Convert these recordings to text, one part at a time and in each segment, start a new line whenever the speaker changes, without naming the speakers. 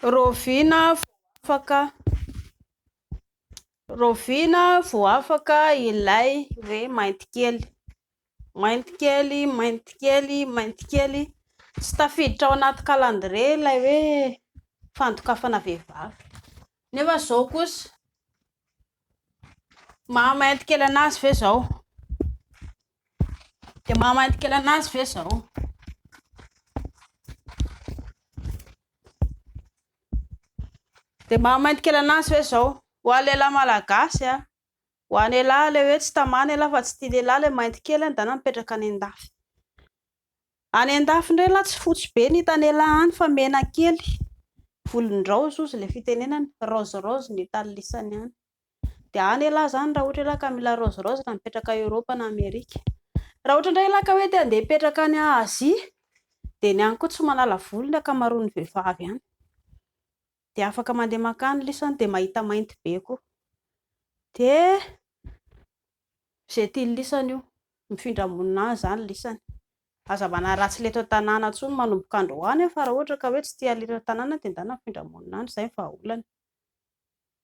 Raoviana vao afaka Raoviana vao afaka ilay hoe maintikely. Maintikely, maintikely, maintikely. Tsy tafiditra ao anaty calendrier ilay hoe fandokafana vehivavy. Nefa izao kosa, maha maintikely an'azy ve izao? Dia mahamainty kely anazy ve izao? Dia mahamainty kely anazy ve izao? Ho an'ny lehilahy malagasy a, ho an'ny lehilahy ilay hoe tsy tamana ialahy fa tsy tia lehilahy ilay mainty kely any dana mipetraka any an-dafy. Any an-dafy indray lahy tsy fotsy be ny hitan'ny lehilahy any fa mena kely, volon-draozy hozy ilay fitenenana, rose rose ny hitan'ny lisany any. de any elah zany raha ohatra elah ka mila raozy raozy raha mipetraka any Europe na Amerika, raha ohatra indray elah ka hoe te handeha hipetraka any Asie de ny any koa tsy manala vola ny ankamaroan'ny vehivavy any, de afaka mandeha mankany lisany de mahita mainty be koa, de ze tian'ny lisany io, mifindra monina any zany lisany, aza manaratsy ny eto an-tanàna intsony manomboka androany an fa raha ohatra ka hoe tsy tia halina tanàna de ndana mifindra monina any, zay ny vahaolana.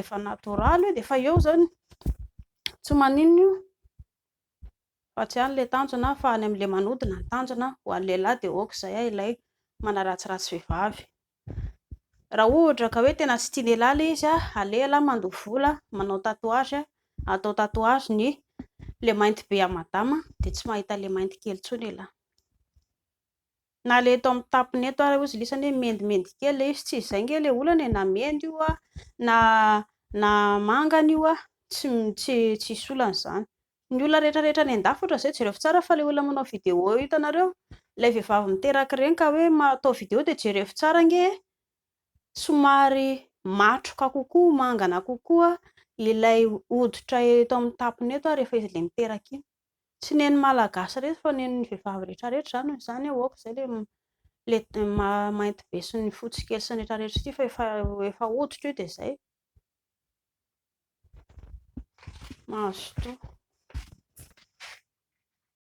efa natoraly io dia efa eo izany, tsy maninona io fa tsy any ilay tanjona fa any amin'ilay manodina ny tanjona, ho an'ny lehilahy dia ok izay an, ilay manaratsiratsy vehivavy, raha ohatra ka hoe tena tsy tia lehilahy ilay izy, aleha lahy mandoa vola manao tatouage, atao tatouage ny ilay mainty be an'i madama dia tsy mahita ilay mainty kely intsony ialahy. Na le eto amin'ny tapony eto ary ozy lisany hoe mendimendy kely le izy tsy izay nge le olana e na mendy io a na na mangana io a tsy tsy tsisy olana izany ny olona rehetra rehetra any an-dafy ohatra izay jereo tsara fa le olona manao video eo hitanareo ilay vehivavy miteraky ireny ka hoe atao video dia jereo tsara nge e somary matroka kokoa mangana kokoa ilay hoditra eto amin'ny tapony eto ary rehefa izy le miteraky iny tsy nen'ny malagasy rehetra fa nen'ny vehivavy rehetra rehetra izany hoy izany aho aoka izay le mainty be sy ny fotsy kely sy ny rehetra rehetra ity fa efa efa hoditra io dia izay mazotoa